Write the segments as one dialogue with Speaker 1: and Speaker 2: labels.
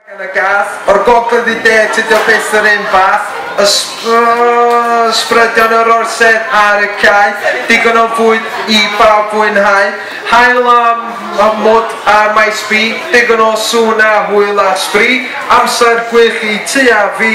Speaker 1: Gan y gath, o'r gogledd i de, tydio byth yr un fath, ysbrydion yr orsedd ar y cae, digon o fwyd i bawb fwynhau, haul a mwd a maes bi, digon o sŵn a hwyl a sbri, amser gwych i ti a fi.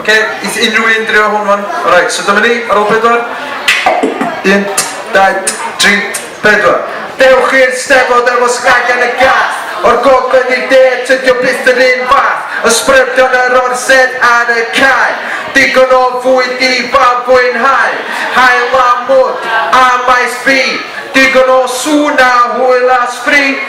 Speaker 1: Oce, neith unrhyw un drio hwn wan? Alright, so dyma ni, ar ôl pedwar. Un, dau, tri, pedwar. Dewch i'r Steddfod efo Snag yn y Gath O'r gogledd i'r de, tydi o byth yr un fath Ysbrydion yr Orsedd ar y cae Digon o fwyd i bawb fwynhau Haul a mwd a maes B Digon o sŵn a hwyl a sbri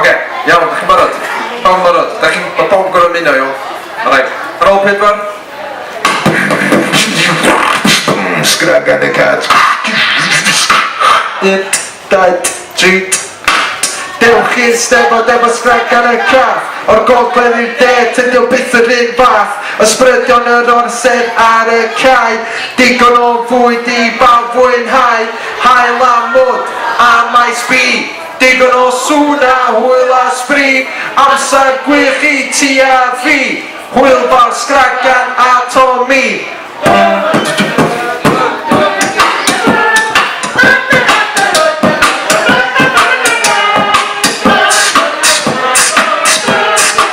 Speaker 1: Oce, iawn, dach chi'n barod? Pawb yn barod? Dach chi'n... Mae pawb yn gorfod ymuno, iawn? Alright, ar ôl pedwar. Sgragan y cat. Un, dau, tri. Dewch i'r steddfod efo sgragan y cat. O'r gogledd i'r de, tydi o byth yr un fath. Ysbrydion yr orsedd ar y cae. Digon o fwyd i bawb fwynhau. Hael a mwd a maes bi. Digon o sŵn a hwyl a sbri, amser gwych i ti a fi, hwyl bar Sgragan a Tommy.